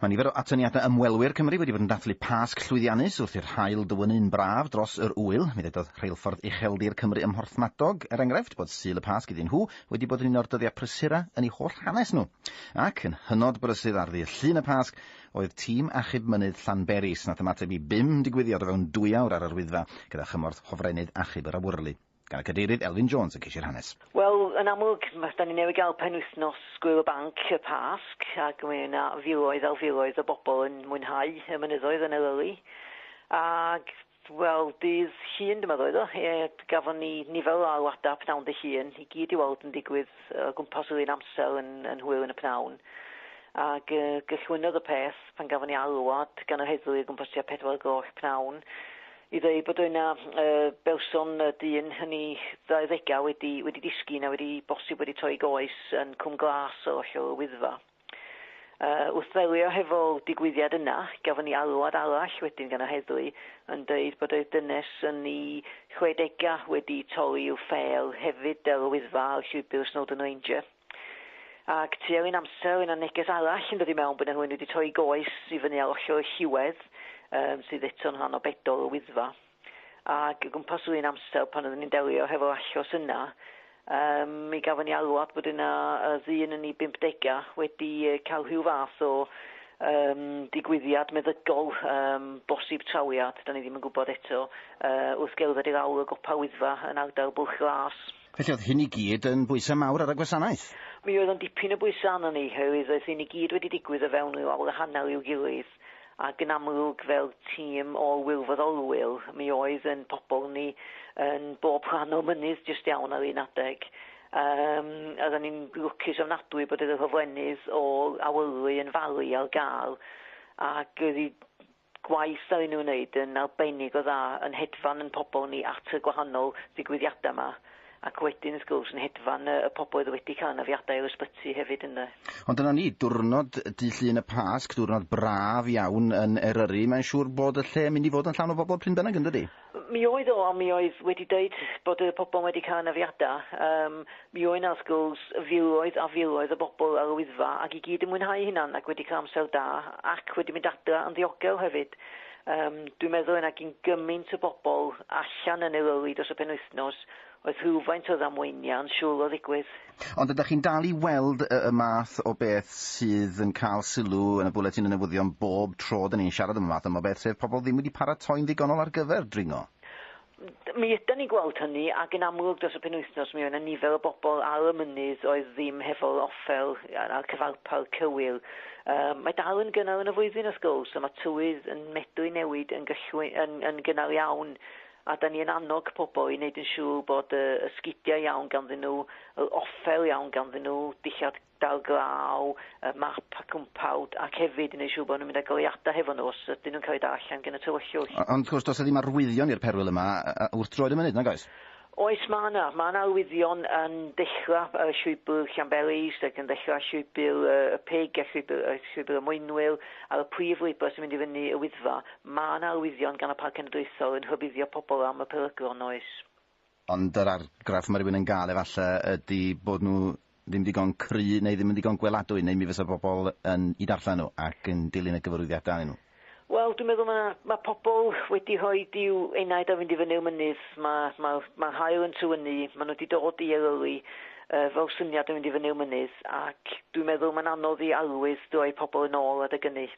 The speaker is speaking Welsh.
Mae nifer o atyniadau ymwelwyr Cymru wedi bod yn dathlu Pasg llwyddiannus wrth i'r haul dywynnu yn braf dros yr ŵyl. Mi ddedodd Rheilffordd Ucheldir Cymru ym Mhorthmadog, er enghraifft, bod Sul y Pasg iddyn nhw wedi bod yn un o'r dyddiau prysura yn eu holl hanes nhw. Ac, yn hynod brysu, ar ddydd Llun y Pasg, oedd tîm achub mynydd Llanberis, nath ymateb i bum digwyddiad o fewn dwy awr ar yr Wyddfa, gyda chymorth Hofrennydd Achub yr Awyrlu, gan y Cadeirydd Elfyn Jones yn ceisio hanes. Wel, yn amlwg, ma- 'dan ni newydd gael penwythnos Gŵyl y Banc, y Pasg, ac mae yna filoedd ar filoedd o bobl yn mwynhau y mynyddoedd yn Eryri. Ac, wel, dydd Llun, dyma ddoedd o, e, gafon ni nifer o alwadau pnawn dy Llun, i gyd i weld yn digwydd o gwmpas yr un amser yn, yn hwyl yn y pnawn. Ac e, gychwynnodd y peth pan gafon ni alwad gan yr heddlu o gwmpas tua pedwar y gloch pnawn, i ddweud bod yna berson dyn yn ei ddauddegau wedi, wedi disgyn a wedi bosib wedi troi goes yn Cwm Glas ar ôl y Wyddfa. Uh, wrth ddelio hefo'r digwyddiad yna, gafon ni alwad arall wedyn gan yr heddlu yn dweud bod y dynes yn ei chwedegau wedi torri i'w ffêl hefyd ar y Wyddfa ar llwybr Snowdon Ranger. Ac tua un amser oedd 'na neges arall yn dod i mewn bod 'na rhywun wedi troi goes i fyny ar ollor y lliwedd um, sydd eto'n rhan o bedol y Wyddfa. Ac o gwmpas yr un amser pan oeddwn i'n delio hefo'r achos yna, um, mi gafon ni alwad bod yna uh, ddyn yn ei 50 wedi cael rhyw fath o um, digwyddiad meddygol, um, bosib trawiad, da ni ddim yn gwybod eto, uh, wrth gerdded i'r awr o gopa Wyddfa yn ardal Bwlch Glas. Felly oedd hyn i gyd yn bwysau mawr ar y gwasanaeth? Mi oedd o'n dipyn o bwysau arnon ni, oherwydd oedd hyn i gyd wedi digwydd o fewn ryw awr a hanner i'w gilydd, ac yn amlwg fel tîm o wirfoddolwyr, mi oedd ein pobl ni yn bob rhan o'r mynydd jyst iawn ar un adeg. Yym, a ro'n i'n lwcus ofnadwy bod yr hofrennydd o'r awyrlu yn falu ar gael, ac oedd hi gwaith da i nhw wneud yn arbennig o dda yn hedfan yn pobl ni at y gwahanol ddigwyddiadau yma ac wedyn wrth gwrs yn hedfan y pobl oedd wedi cael anafiadau i'r ysbyty hefyd ynde. Ond dyna ni, diwrnod Dydd Llun y Pasg, diwrnod braf iawn yn Eryri, mae'n siŵr bod y lle yn mynd i fod yn llawn o bobl pryn bynnag yndydi? Mi oedd o, ond mi oedd wedi dweud bod y pobl wedi cael anafiadau. Um, mi oedd yna, wrth gwrs, filoedd a filoedd o bobl ar y Wyddfa ac i gyd yn mwynhau hynna'n ac wedi cael amser da ac wedi mynd adra yn ddiogel hefyd. Um, dwi'n meddwl yna gyn gymaint o bobl allan yn Eryri dros y penwythnos Oedd rhywfaint o ddamweiniau yn siŵl o ddigwydd. Ond ydych chi'n dal i weld y y math o beth sydd yn cael sylw yn y bwletin y newyddion bob tro 'da ni'n siarad am y math yma o beth, sef pobl ddim wedi paratoi'n ddigonol ar gyfer dringo? Mi ydan ni'n gweld hynny, ac yn amlwg dros y penwythnos mi oedd 'na nifer o bobl ar y mynydd oedd ddim hefo'r offer a'r a'r cyfarpar cywir. Yym mae dal yn gynnar yn y flwyddyn wrth gwrs, a ma' tywydd yn medru newid yn gyllwy- yn yn gynnar iawn A 'dan ni yn annog pobl i wneud yn siŵr bod y y sgidia' iawn ganddyn nhw, yr offer iawn ganddyn nhw, dillad dail glaw, y map a cwmpawd, ac hefyd i wneud siŵr bod nhw'n mynd â goleuadau hefo nhw os ydyn nhw'n cael eu darllen gan y tywyllwch. Ond wrth gwrs, does 'na ddim arwyddion i'r perwyl yma wrth droed y mynydd, nag oes? Oes, ma' 'na. Ma' 'na arwyddion yn dechra' ar y llwybr Llanberis ac yn dechra' llwybr y y Pig a llwybr y llwybr y Mwynwyl, ar y prif lwybr sy'n mynd i fyny y Wyddfa. Mae yna arwyddion gan y Parc Cenedlaethol yn rhybuddio pobl am y peryglon, oes? Ond yr argraff mae rhywun yn gael efallai ydy bod nhw ddim digon cry neu ddim yn ddigon gweladwy neu mi fysa pobl yn eu darllen nhw ac yn dilyn y gyfarwyddiadau arnyn nhw. Wel, dwi'n meddwl mae 'na... mae pobl wedi rhoi i'w enaid a fynd i fyny'r mynydd. Mae... mae'r... mae'r haul yn tywynnu, maen nhw wedi dod i Eryri yy fel syniad o fynd i fyny'r mynydd ac dwi'n meddwl mae'n anodd i arwydd droi pobl yn ôl adeg ynny.